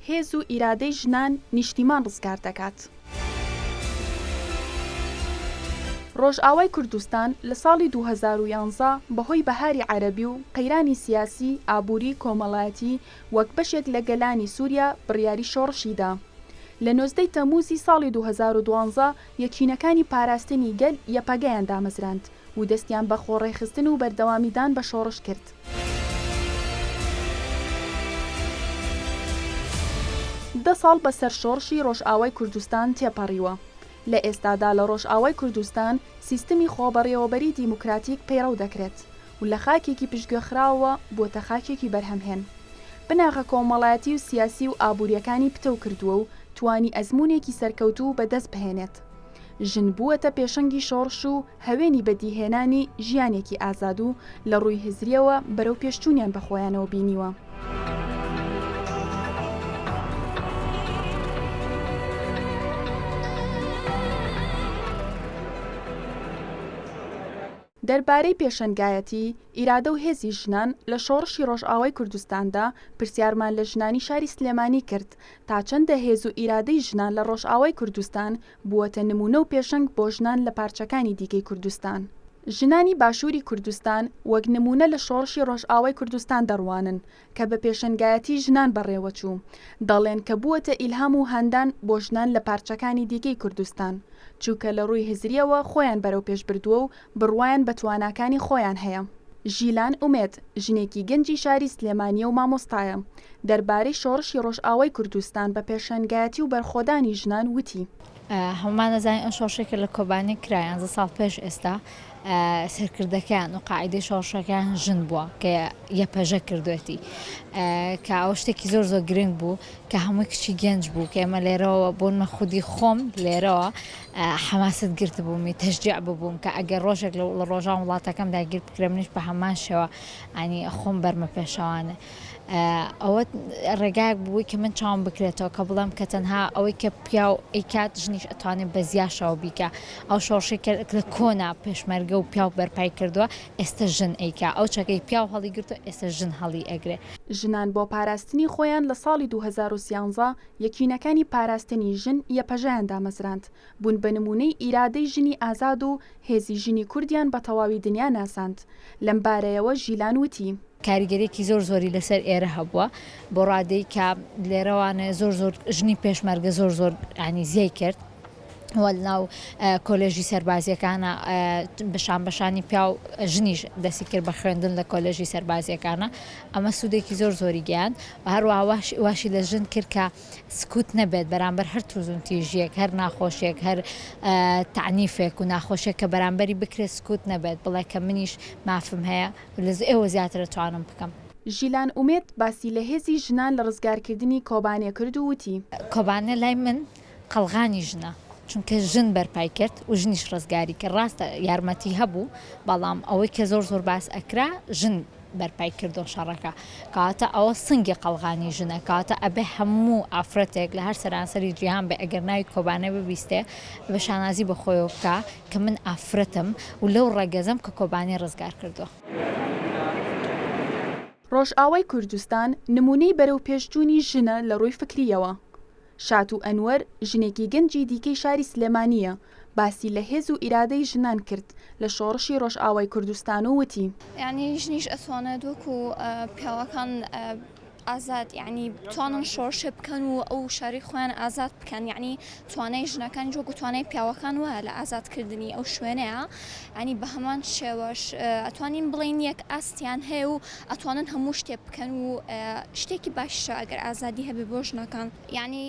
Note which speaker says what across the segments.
Speaker 1: هێز و ئیرادەی ژنان نیشتیمان ڕزگار دەکات. ڕۆژئاوای کوردستان لە ساڵی دوو هەزار و یازدە بەهۆی بەهاری عەرەبی و قەیرانی سیاسی، ئابووری، کۆمەڵایەتی وەک بەشێک لە گەلانی سووریا بڕیاری شۆڕشی دا. لە نۆزدە ی تەمووزی ساڵی دوو هەزار و دوازدە یەکینەکانی پاراستنی گەل، یەپەگەیان دامەزراند و دەستیان بە خۆڕێکخستن و بەردەوامیدان بە شۆڕش کرد. دە ساڵ بە سەر شۆڕشی ڕۆژئاوای کوردستان تێپەڕیوە. لە ئێستادا لە ڕۆژئاوای کوردستان سیستمی خۆبەڕێوەبەریی دیموکراتیک پەیڕەو دەکرێت و لە خاکێکی پشتگوێخراوەوە بۆتە خاکێکی بەرهەمهێن بناغە کۆمەڵایەتی و سیاسی و ئابووریەکانی پتەو کردووە و توانی ئەزموونێکی سەرکەوتوو بە دەست بهێنێت. ژن بووەتە پێشەنگی شۆڕش و هەوێنی بەدیهێنانی ژیانێکی ئازاد و لە ڕووی هزریەوە بەرەو پێشچوونیان بە خۆیانەوە بینیوە. دەربارەی پێشەنگایەتی، ئیرادە و هێزی ژنان لە شۆڕشی ڕۆژئاوای کوردستاندا، پرسیارمان لە ژنانی شاری سلێمانی کرد، تا چەندە هێز و ئیرادەی ژنان لە ڕۆژئاوای کوردستان بووەتە نموونە و پێشەنگ بۆ ژنان لە پارچەکانی دیکەی کوردستان؟ ژنانی باشووری کوردستان وەک نموونە لە شۆڕشی ڕۆژئاوای کوردستان دەڕوانن، کە بە پێشەنگایەتی ژنان بەڕێوەچوو، دەڵێن کە بووەتە ئیلهام و هاندان بۆ ژنان لە پارچەکانی دیکەی کوردستان، چووکە لە ڕووی هزرییەوە خۆیان بەرەوپێش بردووە و بڕوایان بە تواناکانی خۆیان هەیە. ژیلان ئومێد، ژنێکی گەنجی شاری سلێمانییە و مامۆستایە، دەربارەی شۆڕشی ڕۆژئاوای کوردستان بە پێشەنگایەتی و بەرخۆدانی ژنان وتی، هەموومان
Speaker 2: ئەزانین ئەو شۆڕشەی کە لە کۆبانی کرا یانزە ساڵ پێش ئێستا سەرکردەکەیان و قاعدەی شۆڕشەکەیان ژن بووە کە یەپەژە کردوێتی کە ئەو شتێکی زۆر زۆر گرنگ بوو کە هەمووی کچی گەنج بوو کە ئێمە لێرەوە بۆن مە خودی خۆم لێرەوە حەماست گرت بوومی تەشجیع ببووم کە ئەگەر ڕۆژێک لە ڕۆژان وڵاتەکەم داگیر بکرێ منیش بە هەمان شێوە ئەنی خۆم بەرمە پێشەوانە ئەوە ڕێگایەک بووی کە من چاوم بکرێتەوە کە بڵێم کە تەنها ئەوەی کە پیاو ئەیکات ژنیش ئەتوانێت بە زیاشەوە بیکە ئەو شۆڕشی کە لە کۆنا پێشمەرگە و پیاو بەرپای کردووە ئێستا ژن ئەیکا ئەو چەکەی پیاو هەڵی گرتو ئێستا ژن هەڵی ئەگرێ. ژنان بۆ
Speaker 1: پاراستنی خۆیان لە ساڵی دوو هەزار و سیانزە یەکینەکانی پاراستنی ژن، یەپەژەیان دامەزراند، بوون بە نموونەی ئیرادەی ژنی ئازاد و هێزی ژنی کوردیان بە تەواوی دنیا ناساند. لەم بارەیەوە ژیلان وتی، کاریگەریەکی زۆر
Speaker 2: زۆری لەسەر ئێرە هەبووە بۆ ڕادەی کە لێرەوانێ زۆر زۆر ژنی پێشمەرگە زۆر زۆر ینی زیای کرد ناو کۆلێژی سەربازیەکانە بەشان بەشانی پیا و ژنیش دەسی کرد بە خوێندن لە کۆلێژی سەربازیەکانە ئەمە سوودێکی زۆر زۆری گیان هەروە واشی لە ژن کرد کە سکوت نەبێت بەرامبەر هەر توزون تیژیەک هەر ناخۆشیێک هەر تعنیفێک و ناخۆشێک کە بەرامبەری بکرێت سکوت نەبێت بڵێ کە منیش مافم هەیە لە ئێوە زیاتر ئەتوانم بکەم. ژیلان ئومێد
Speaker 1: باسی لە هێزی ژنان لە ڕزگارکردنی کۆبانێ کرد و وتی. کۆبانێ لای من
Speaker 2: قەڵغانی ژنە، چونکە ژن بەرپای کرد و ژنیش ڕزگاری کرد، ڕاستە یارمەتی هەبوو، بەڵام ئەوەی کە زۆر زۆر باس ئەکرا ژن بەرپای کردووە شەڕەکە، کەواتە ئەوە سنگی قەڵغانی ژنە، کەواتە ئەبێ هەموو ئافرەتێک لە هەر سەرانسەری جیهان بێ ئەگەر ناوی کۆبانێ ببیستێ، ئەبێ شانازی بە خۆیەوە بکا کە من ئافرەتم و لەو ڕەگەزەم کە کۆبانی ڕزگار کردووە.
Speaker 1: ڕۆژئاوای کوردستان نموونەی بەرەو پێش جوونی ژنە لە ڕووی فکرییەوە. شاتوو ئەنوەر ژنێکی گەنجی دیکەی شاری سلێمانییە، باسی لە هێز و ئیرادەی ژنان کرد لە شۆڕشی ڕۆژئاوای کوردستان و وتی، یانی ژنیش
Speaker 3: ئەتوانێت وەکوو پیاوەکان. ئازاد یەعنی بتوانن شۆڕشێ بکەن و ئەو شاری خۆیان ئازاد بکەن یەعنی توانای ژنەکان جۆ گوتوانای پیاوەکان وایە لە ئازادکردنی ئەو شوێنەیە ئەنی بە هەمان شێوەش ئەتوانین بڵین یەک ئاستیان هەیە و ئەتوانن هەموو شتێ بکەن و شتێکی باشە ئەگەر ئازادی هەبێ بۆ ژنەکان یەعنی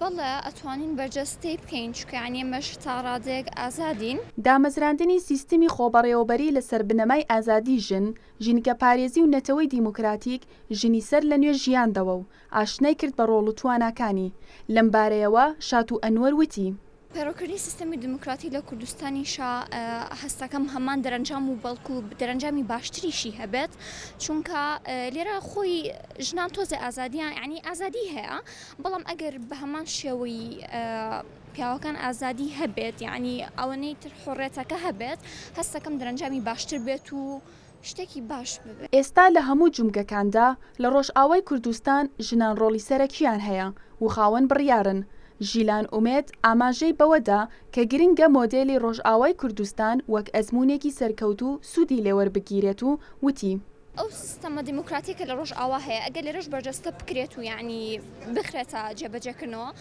Speaker 3: بەڵێ ئەتوانین بەرجەستەی بکەین چکەیانی ئێمەش تا ڕادەیەک ئازادین. دامەزراندنی
Speaker 1: سیستمی خۆبەڕێوەبەری لەسەر بنەمای ئازادی ژن ژینگەپارێزی و نەتەوەی دیموکراتیک ژنی سەر لە نوێ ژیاندەوە و ئاشنای کرد بە ڕۆڵ و تواناکانی. لەم بارەیەوە شاتوو ئەنوەر وتی، پەرەوکردنی سیستەمی
Speaker 3: دیموکراتی لە کوردستانیشا هەستەکەم هەمان دەرەنجام و بەڵکوو دەرەنجامی باشتریشی هەبێت، چونکە لێرە خۆی ژنان تۆزێ ئازادیان یانی ئازادی هەیە، بەڵام ئەگەر بە هەمان شێوەی. پیاوەکان ئازادی هەبێت یەعنی ئەوەنەی تر حوڕێتەکە هەبێت هەستەکەم درەنجامی باشتر بێت و شتێکی باش ببێت. ئێستا لە هەموو
Speaker 1: جومگەکاندا لە ڕۆژئاوای کوردستان ژنان ڕۆڵی سەرەکییان هەیە و خاوەن بڕیارن، ژیلان ئومێد ئاماژەی بەوەدا کە گرنگە مۆدێلی ڕۆژئاوای کوردستان وەک ئەزموونێکی سەرکەوتوو سوودی لێوەربگیرێت و وتی، ئەو سیستەمە
Speaker 3: دیموکراتییە کە لە ڕۆژئاوا هەیە ئەگەر لێرەش بەرجەستە بکرێت و یەعنی بخرێتە جێبەجێکردنەوە